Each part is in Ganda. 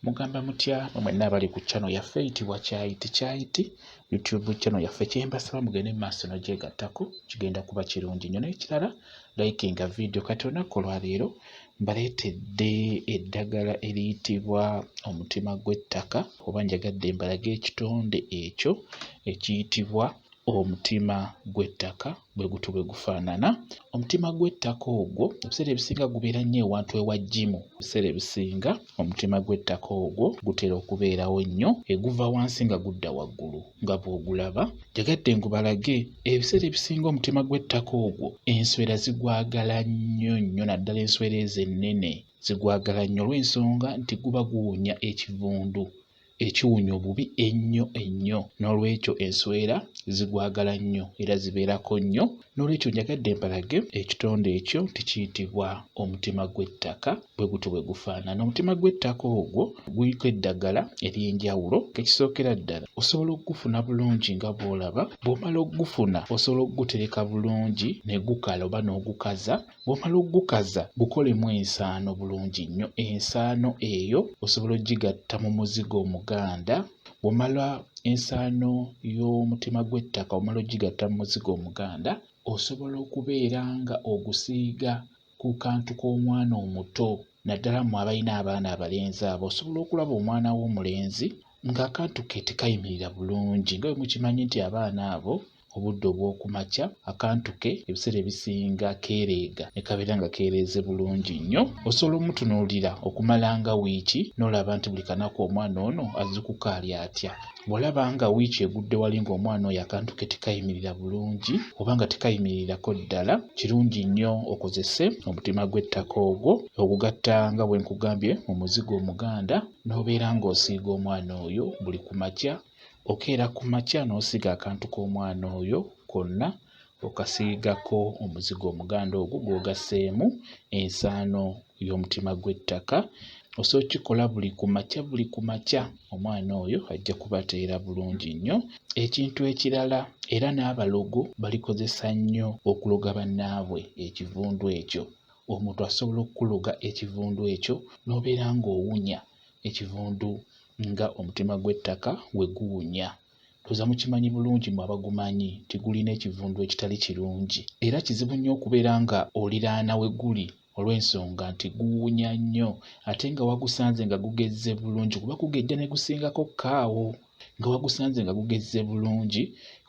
Mugamba mutya mwe mwenna abali ku channel yaffe eyitibwa Kyayiti Kyayiti YouTube channel yaffe kyembasaba mugende mu maaso n'ogyegattako kigenda kuba kirungi nnyo n'ekirala likinga vidiyo kati olunaku olwaleero mbaleetedde eddagala eriyitibwa omutima gw'ettaka oba njagadde mbalage ekitonde ekyo ekiyitibwa omutima gw'ettaka bwe gutyo bwe gufaanana. Omutima gw'ettaka ogwo ebiseera ebisinga gubeera nnyo ewantu ewa jjimu. Ebiseera ebisinga omutima gw'ettaka ogwo gutera okubeerawo nnyo eguva wansi nga gudda waggulu nga bw'ogulaba. Njagadde ngubalage ebiseera ebisinga omutima gw'ettaka ogwo enswera zigwagala nnyo nnyo naddala enswera ezo ennene zigwagala nnyo olw'ensonga nti guba guwunya ekivundu. ekiwunya obubi ennyo ennyo n'olwekyo enswera zigwagala nnyo era zibeerako nnyo n'olwekyo njagadde mbalage ekitonde ekyo nti kiyitibwa omutima gw'ettaka bwe gutyo bwe gufaanana omutima gw'ettaka ogwo guliko eddagala ery'enjawulo ekisookera ddala osobola okugufuna bulungi nga bw'olaba bw'omala okugufuna osobola okugutereka bulungi ne gukala oba n'ogukaza Bw'omala okugukaza gukolemu ensaano bulungi nnyo. Ensaano eyo osobola ogigatta mu muzigo omuganda. Bw'omala ensaano y'omutima gw'ettaka omala ogigatta mu muzigo omuganda, osobola okubeera nga ogusiiga ku kantu k'omwana omuto naddala mmwe abalina abaana abalenzi abo osobola okulaba omwana wo omulenzi ng'akantu ke tekayimirira bulungi nga bwe mukimanyi nti abaana abo obudde obw'oku makya akantu ke ebiseera ebisinga keereega ne kabeera nga keereeze bulungi nnyo. Osobola omutunuulira okumala nga wiiki n'olaba nti buli kanaku omwana ono azuukuka ali atya. Bw'olaba nga wiiki egudde wali ng'omwana oyo akantu ke tekayimirira bulungi oba nga tekayimirirako ddala, kirungi nnyo okozese omutima gw'ettaka ogwo ogugatta nga bwe nkugambye mu muzigo omuganda n'obeera ng'osiiga omwana oyo buli ku makya Okeera ku makya n'osiga akantu k'omwana oyo konna okasiigako omuzigo omuganda ogwo gw'ogasseemu ensaano y'omutima gw'ettaka. Osobola okukikola buli ku makya buli ku makya, omwana oyo ajja kubateera bulungi nnyo. Ekintu ekirala era n'abalogo balikozesa nnyo okuloga bannaabwe ekivundu ekyo. Omuntu asobola okukuloga ekivundu ekyo n'obeera ng'owunya ekivundu nga omutima gw'ettaka bwe guwunya. Ndowooza mukimanyi bulungi mwe abagumanyi nti gulina ekivundu ekitali kirungi era kizibu nnyo okubeera nga oliraana we guli olw'ensonga nti guwunya nnyo ate nga wagusanze nga gugezze bulungi kuba kugejja ne gusingako kaawo nga wagusanze nga gugezze bulungi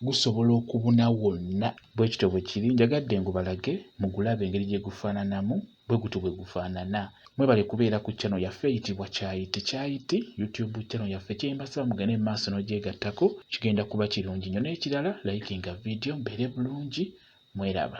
gusobola okubuna wonna. Bwe kityo bwe kiri. Njagadde ngubalage mugulabe engeri gye gufaananamu bwe gutyo bwe gufaanana. Mwebale kubeera ku channel yaffe eyitibwa Kyayi Tekyayiti YouTube channel yaffe. Kyembasaba mugende mu maaso n'ogyegattako kigenda kuba kirungi nnyo. N'ekirala likinga vidiyo mbeere bulungi. Mweraba.